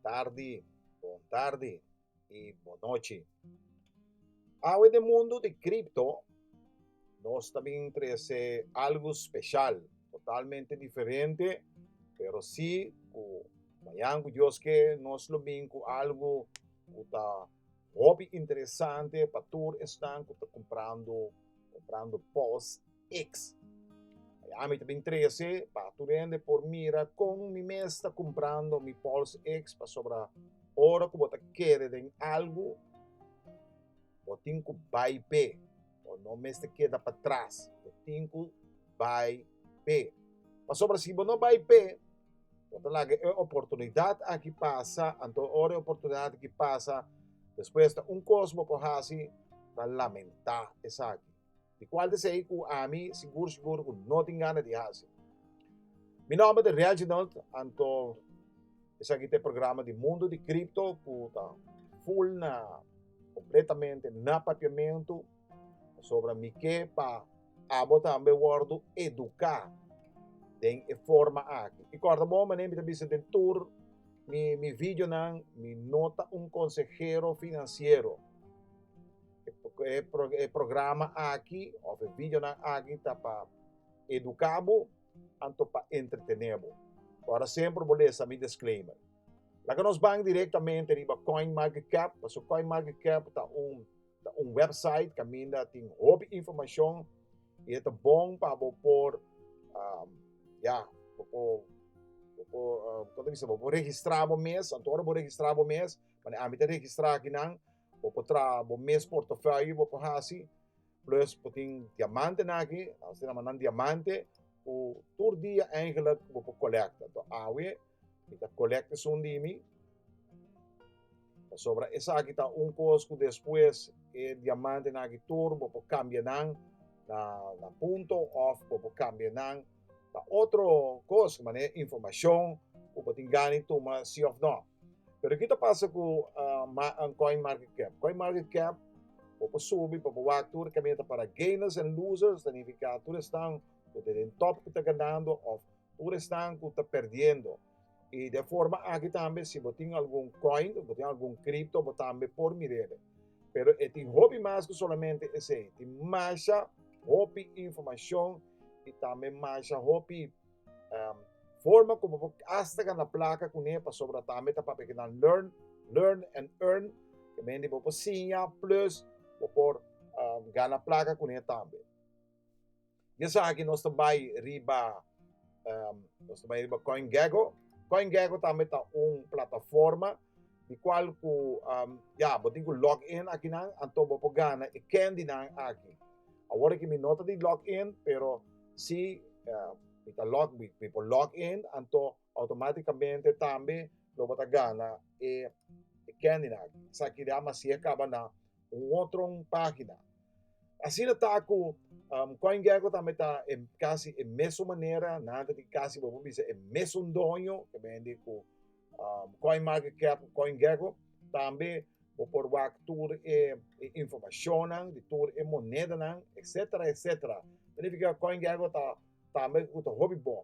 tardi, bon tardi y bon noche. Awe de mundo de cripto, nos también trece algo especial, totalmente diferente, pero sí, cu mañana cu Dios que nos lo bin cu algo cu ta Hopi interesante pa tur esnan ku ta comprando comprando pos X. Miami ta bin 13 pa tur hende por mira kon mi mes ta comprando mi pos X pasobra ora ku bo ta kere den algu bo tin ku bai pe. Bo no mester keda pa tras, bo tin ku bai p'e. Pasobra si bo no bai p'e, bo ta laga e oportunidat aki pasa, anto ora e oportunidat aki pasa, despues ta un kos bo por hasi, ta lamentá esaki. Di kual ta esei ku ami sigur sigur ku no tin gana di hasi? Mi nòmber ta Reginald, anto esaki ta e programa di Mundo di Cripto ku ta ful na Completamente na papiamento, pasobra mi ke pa abo tambe wordo educa den e forma aki. I corda bon manera mi ta bisa den tur mi mi videonan mi no ta un consehero financiero. E e programa aki of e videonan aki ta pa educa bo anto pa entretener bo. Ora semper bo lesa mi disclaimer. Laga nos bang directamente riba CoinMarketCap, paso CoinMarketCap ta un, ta un website caminda tin hopi informacion y e ta bon pa bo por, um, ya, bo por, bo por, uh, como te dice, bo por registra bo mes, anto ora bo registra bo mes, mane ami ta registra aki nan, bo por traha bo mes portafolio bo por haci, plus bo tin diamantenan aki, asina mannan diamante, cu tur dia eigenlijk bo por colecta. Awe, Mi ta kolekt esun di mi, pasobra esaki ta un kos ku despues e diamantenan aki tur bo por kambia nan na punto òf bo por kambia nan na otro kos, di manera informashon ku bo tin gana di tuma si òf nò. Pero kiko ta pasa ku Coin Market Cap? Coin Market Cap bo por subi, bo por wak tur e kaminda ta para gainers and losers, ta nifiká tur esnan ku ta den tòp ku ta ganando òf Tur esnan ku ta perdiendo. I den forma aki tambe si bo tin algun coin, bo tin algun cripto bo tambe por mir'e. Pero e tin hopi mas ku solamente esei. E tin masha hopi informashon i tambe masha hopi forma ku bo por hasta gana plaka kuné pasobra tambe ta papia kina learn, learn and earn ke men di bo por siña plus bo por gana plaka kuné tambe. di esaki nos ta bai riba nos ta bai riba CoinGecko. CoinGecko tambe ta un plataforma di cual cu ya bo tin cu log in akinan anto bo por gana e candynan aki. Awor aki mi no ta di log in pero si mi ta log mi por log in anto Automáticamente tambe lo bo ta gana e candy nan aki. Esaki de Amasié kaba na un otro página. Asina ta ku um, CoinGecko tambe ta e, kasi e mesun manera, nan ta tin kasi bo por bisa e mesun doño ke bendi ku um, CoinMarketCap, CoinGecko. Tambe bo por wak tur e, e informacionnan di tur e monedanan, etcétera, etcétera. Significa CoinGecko ta tambe ku ta hopi bon.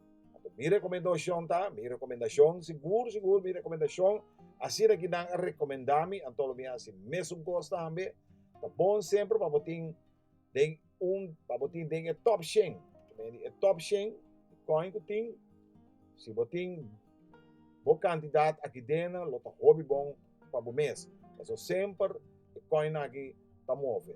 Anto mi rekomendashon ta, mi rekomendashon, sigur sigur mi rekomendashon, asina ki nan a rekomendá mi, anto lo mi a hasi mesun kos tambe. Ta bon semper pa bo tin den un, pa bo tin den e tòp shen, ta mei di e tòp shen di kòin ku tin. Si bo tin bo kantidat aki dena lo ta hopi bon pa bo mes, paso semper e kòinnan aki ta move.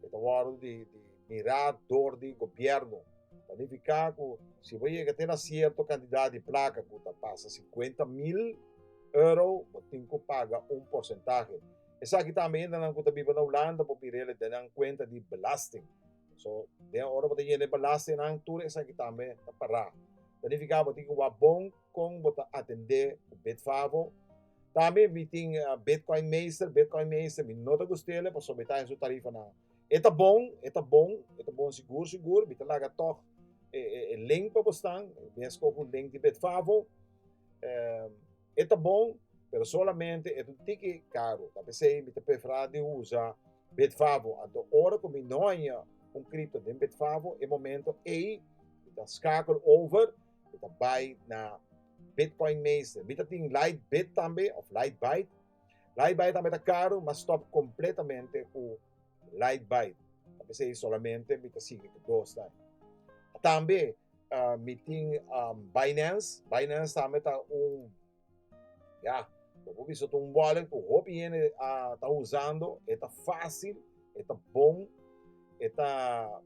E ta wòrdu di mirá dor di gobièrnu. Ta nifiká ku si bo yega te na sierto kantidat di plaka ku ta pasa sinkuenta mil euro, bo tin ku paga un porsentahe. Esaki tambe hende nan ku ta biba na Hulanda por bir'el den nan kuenta di belasting. So, den ora bo ta yena e belastingnan, tur esaki tambe ta pará. Ta nifiká bo tin ku wak bon kon bo ta atendé ku Bitfavo Tambe mi tin Bitcoin meester, Bitcoin meester, mi no ta gust'ele pasobra mi ta haña su tarifanan. E ta bon, e ta bon, e ta bon sigur sigur, mi ta laga tòg e e e link pa bosnan, mi a skohe un link di Bitfavo, e ta bon, pero solamente e ta un tiki karu, ta p'esei mi ta preferá di usa Bitfavo, anto ora ku mi no haña un kripto den Bitfavo, e momento ei mi ta skakel over. Bo ta bai na Bitcoin Meester. Bita tin Lightbit tambe of Lightbyte. Lightbyte tambe ta karu, ma stop kompletamente ku Lightbyte. Ta p'esei solamente mi ta sigui ku dos nan. Tambe mi tin Binance. Binance tambe ta un Ya, bo por bisa ta un wallet cu hopi hende a ta usando, e ta fácil, e ta bon, e ta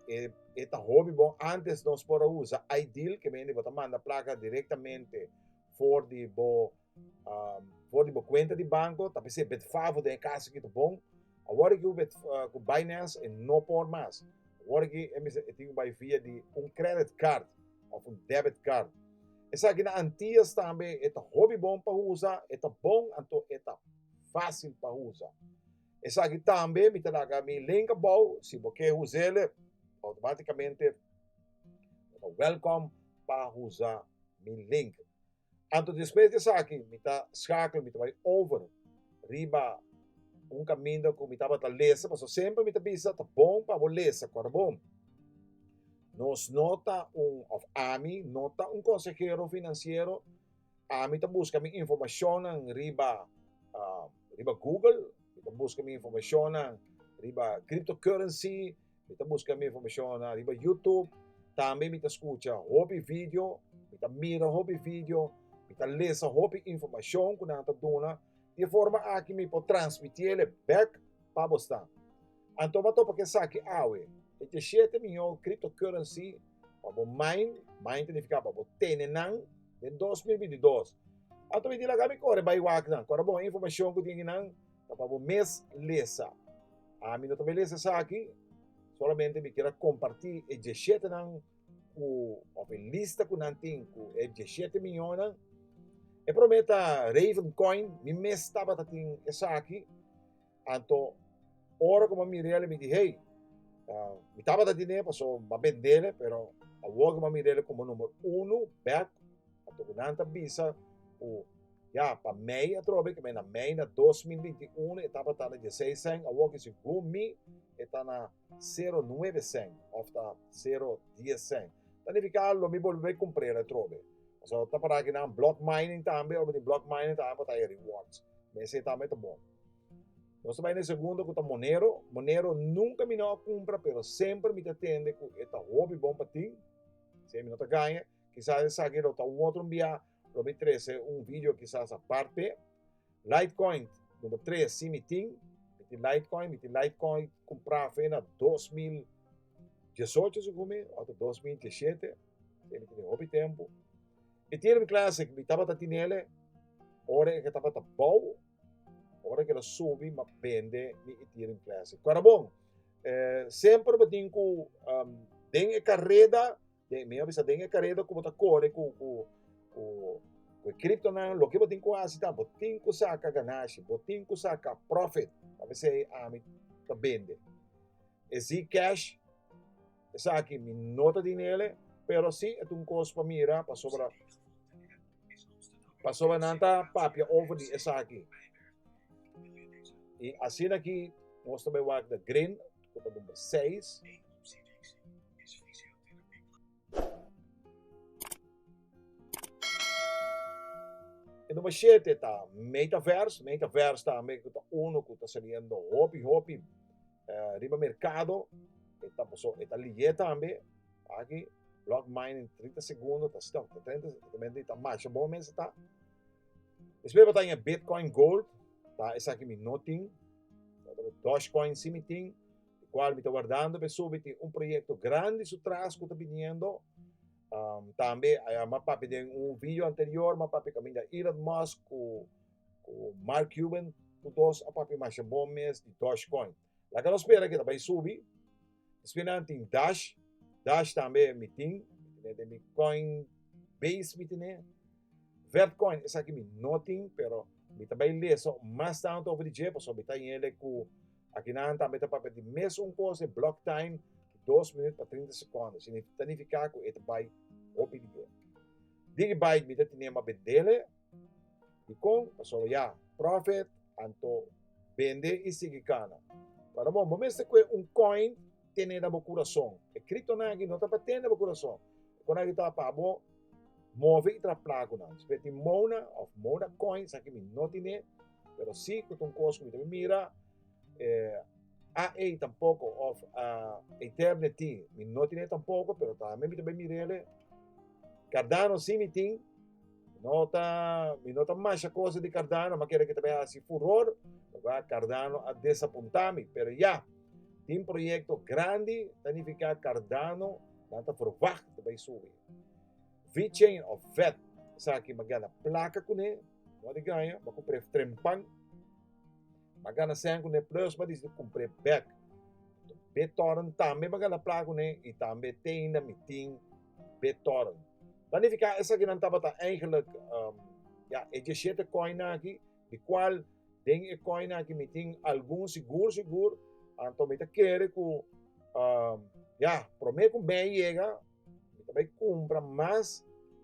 e, e ta hopi bon. Antes nos por a usa iDeal, que mende bo ta manda placa directamente for di bo um, for di bo cuenta di banco, ta p'esei Bitfavo den e caso aki ta bon. Awor aki cu, Bit, uh, cu Binance e no por mas. Awor aki e mester e tin cu bai via di un credit card. of un debit card. Esaki na Antillas tambe e ta hobi bon pa usa, e ta bon anto e ta fácil pa usa. Esaki tambe mi ta laga mi link abou si bo ke usele automáticamente bo ta welcome pa usa mi link. Anto despues di esaki mi ta skakla, mi ta bai over riba un kaminda ku mi tabata lesa, pasobra semper mi ta bisa ta bon pa bo lesa ku ora bon. Nos no ta un, òf ami no ta un konsehero finansiero, ami ta buska mi informashonnan riba riba google, mi ta buska mi informashonnan riba cryptocurrency, Mi ta buska mi informacion riba YouTube, tambe mi ta scucha hopi video, mi ta mira hopi video, mi ta lesa hopi informacion cu nan ta duna, di e forma aki mi por transmiti ele bek pa bosnan. Anto bo a topa cu esaki awe, e diecisiete miyo cryptocurrency pa bo mine, mine ta nifica pa bo tene nan, den dos mil binti dos. Anto mi di laga mi core bay wak nan, core bo informacion cu tin aki nan, ta pa bo mes lesa. Ami no ta bai lesa esaki, solamente mi kier a kompartí e diesetenan ku, òf e lista ku nan tin ku e diesete miñónan. E promé ta Raven Coin, mi mes tabata tin esaki, anto ora ku mi a mirel mi di hey, mi tabata tin'é pasobra mi a bendel, pero awor ku mi a mirel komo number uno bèk, Anto ku nan ta bisa ku, Ya, pa mei atrobe, ke mei na mei na dos mil binti uno e tabata na dieseis sèn, awor kisi gun mi e ta na sero nuebe sèn òf ta sero dies sèn. Ta nifiká lo mi bolbe bai kumpr'é atrobe. Pasobra bo ta pará ku nan block mining tambe, ora bo tin block mining tambe bo ta haya rewards. Mester tambe ta bon. Nos ta bai na e segundo ku ta Monero. Monero nunka mi no a kumpra pero semper mi ta tende ku e ta hopi bon pa tin, siña mi no ta gaña. Kisas esaki lo ta un otro mbia lo mi trece un video kisas a parte. Litecoin number tres si mi tin, mi tin Litecoin, mi tin Litecoin cumpra fe na dos mil diesocho segun mi o ta dos mil diesete, mi tin e hopi tempo. Ethereum Classic mi tabata tinele ora e ke tabata bou, ora e ke lo subi m'a bende mi Ethereum Classic. Kora bon, eh semper bo tin ku den e kareda Den, mi a bisa den e kareda ku bo ta kore ku, ku, ku, ku e kriptonan, loke bo tin ku hasi ta, bo tin ku saka ganashi, bo tin ku saka profit, ta mesei ami ta bende e Zcash, esaki mi no ta di nele, pero si e ta un kos pa mira, pasobra, pasobra nan ta papia over di esaki. I asina ki nos ta bai wak na Grin. ku ta number seis. E number shete ta Metaverse, Metaverse tambe ku ta uno ku ta saliendo hopi hopi riba merkado, e ta paso e ta liye tambe aki block mining trinta segundo ta stop ta treinta segundomente e ta masha bon mester ta. Despues bo ta Bitcoin Gold ta esaki mi no tin. Dogecoin si mi tin, di cual mi ta wardando beso, mi tin un proyecto grandi su tras cu ta biniendo, tambe a papia den un video anterior mi a papia caminda Elon Musk cu Mark Cuban, cu dos a papia masha bon mes di Dogecoin. Laga nos spera cu ta bay subi. Espe nan tin Dash, Dash tambe mi tin, mi tene den mi Coinbase mi tene. Vertcoin esaki mi no tin pero mi ta bay lesa mas tanto over di dje pasobra mi ta yende cu aki nan tambe ta papia di mes un cos e block time dos minut pa trinta secondo ta nifica cu e ta bay hopi di dje. Digibyte mi ta tine ma bendele. Dikon? Pasobra ya, prophet, anto bende y sigui cana. Pero bon, bo mester coe un coin tene na bo curason. E criptonan aki no ta pa tene na bo curason. E conan aki ta pa bo move y traha placo nan. Si bo ya tin mona of mona coins, aki mi no tine, pero si cu ta un cos cu mi ta bin mira, eh, AE tampoco of Eternity mi no tine tampoco, pero tambe mi ta bay mirele, Cardano si mi tin. No ta, mi no ta masha cosa di Cardano, ma keda ki ta bay hasi furor, porka Cardano a desapunta mi. Pero ya, tin proyecto grandi, ta nifica Cardano nan ta verwacht ta bay subi. V-Chain of Vet, esaki mi a gana placa cune, no di graña, mi a cumpre trempan, mi a gana sèn cune, plus mi a disiti cumpre bek. Be toren tambe mi a gana placa cune y tambe te ainda mi tin. Betorn. Ta nifiká esakinan tabata eigenlik ya e djeshete kòina aki, di kual den e kòina aki mi tin algun sigur sigur, anto mi ta kere ku ya promé ku mei yega mi ta bai kumpra mas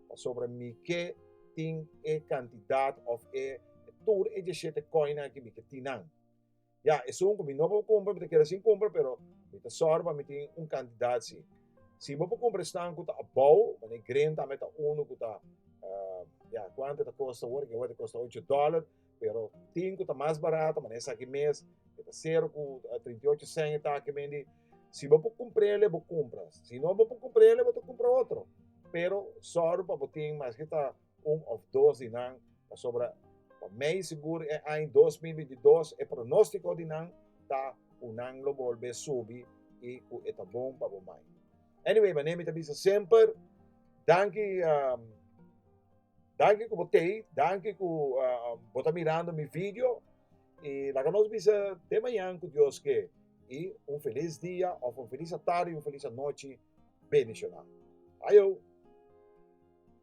pasobra mi ke tin e kantidat òf e tur e djeshete kòina aki mi ke tin nan. Ya, esun cu mi no por cumpra, mi ta keda sin cumpra, pero mi ta sor pa mi tin un cantidad si. Si bo por cumpra e stan cu ta abou, mane e gren tambe ta unu cu ta, ya, cuantu e ta costa awor? Awor e ta costa ocho dollar, pero tin cu ta mas barato, mane esaki mes, e ta cero cu trinta y ocho cen e taki bendi. Si bo por cumpr'ele, bo cumpra. Si no bo por cumpr'ele, bo ta cumpra otro. Pero sor pa bo tin, maske ta. un of dos di nan, pasobra pa mei sigur e aña dos mil binti dos e pronóstiko di nan ta ku nan lo bolbe subi i ku e ta bon pa bo mai. Anyway, manera mi ta bisa semper, danki um, danki ku bo tei, danki ku uh, bo ta mirando mi video i laga nos bisa te mañan ku Dios ke i un feliz dia of un feliz atardi, un feliz anochi bendicional. Ayo!